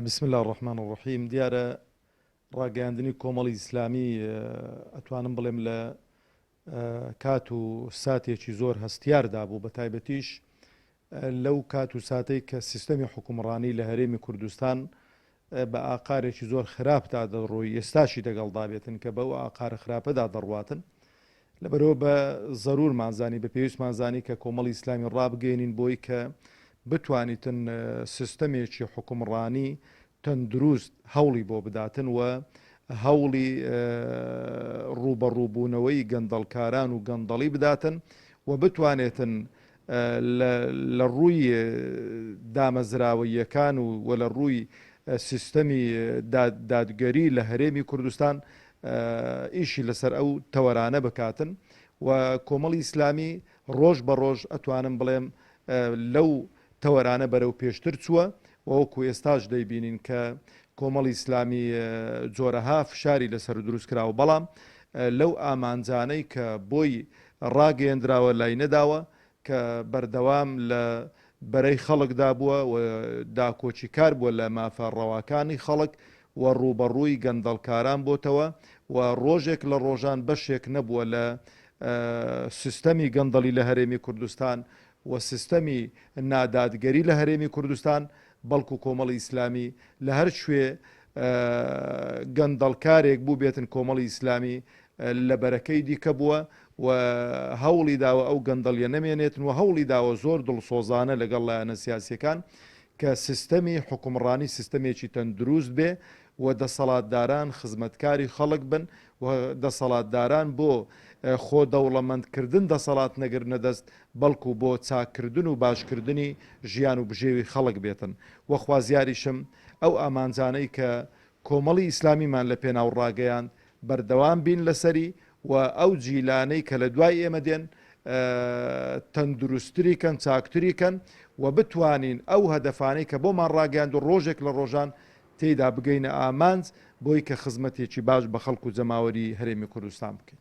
بسم اللە الرحمن الرحیم دیارە ڕاگەیاندنی کۆمەڵی ئیسلامی ئەتوانم بڵێم لە کات و ساتێکی زۆر هەستیاردا بوو بە تایبەتیش لەو کات و ساتەی کە سیستەمی حوکمڕانی لە هەرێمی کوردستان بە ئاقارێکی زۆر خراپدا دەڕۆی، ئێستاشی دەگەڵدا بێتن کە بەو ئاقارە خراپەدا دەڕواتن، لەبەرئەوە بە زەروورمان زانی، بە پێویستمان زانی کە کۆمەڵی ئیسلامی ڕابگەیەنین بۆی کە بتوانیتن سیستەمێکی حوکمڕانی تەندروست هەوڵی بۆ بداتن و هەوڵی ڕووبەڕووبوونەوەی گەندەڵکاران و گەندەڵی بداتن و بتوانێتن لە ڕووی دامەزراوەییەکان و و لە ڕووی سیستەمی دادگەری لە هەرێمی کوردستان ئیشی لەسەر ئەو تەوەرانە بکاتن و کۆمەڵی ئیسلامی ڕۆژ بە ڕۆژ ئەتوانم بڵێم لەو تەوەرانە بەرەو پێشتر چووە وەکو ئێستاش دەیبینین کە کۆمەڵی ئیسلامی جۆرەها فشاری لەسەر دروستکراوە بەڵام لەو ئامانجانەی کە بۆی ڕاگەیەندراوە لای نەداوە کە بەردەوام لە بەرەی خەڵکدا بووە و داکۆکیکار بووە لە مافە ڕەواکانی خەڵک و ڕووبەڕووی گەندەڵکاران بۆتەوە و ڕۆژێک لە ڕۆژان بەشێک نەبووە لە سیستەمی گەندەڵی لە هەرێمی کوردستان و سیستەمی نادادگەری لە هەرێمی کوردستان، بەڵکو کۆمەڵی ئیسلامی لە هەر کوێ گەندەڵکارێک بووبێتن کۆمەڵی ئیسلامی لە بەرەکەی دیکە بووە و هەوڵی داوە ئەو گەندەڵیە نەمێنێتن و هەوڵی داوە زۆر دڵسۆزانە لەگەڵ لایەنە سیاسیەکان کە سیستەمی حوکمڕانی سیستەمێکی تەندروست بێ و دەسەڵاتداران خزمەتکاری خەڵک بن و دەسەڵاتداران بۆ خۆ دەوڵەمەندکردن دەسەڵات نەگرنە دەست بەڵکو بۆ چاککردن و باشکردنی ژیان و بژێوی خەڵک بێتن و خوازیاریشم ئەو ئامانجانەی کە کۆمەڵی ئیسلامیمان لە پێناو ڕاگەیاند بەردەوام بین لەسەری و ئەو جیلانەی کە لە دوای ئێمە دێن تەندروستری کەن چاکتری کەن و بتوانین ئەو هەدەفانەی کە بۆمان ڕاگەیاند و ڕۆژێک لە ڕۆژان تێیدا بگەینە ئامانج بۆی کە خزمەتێکی باش بە خەڵک و جەماوەری هەرێمی کوردستان بکەین.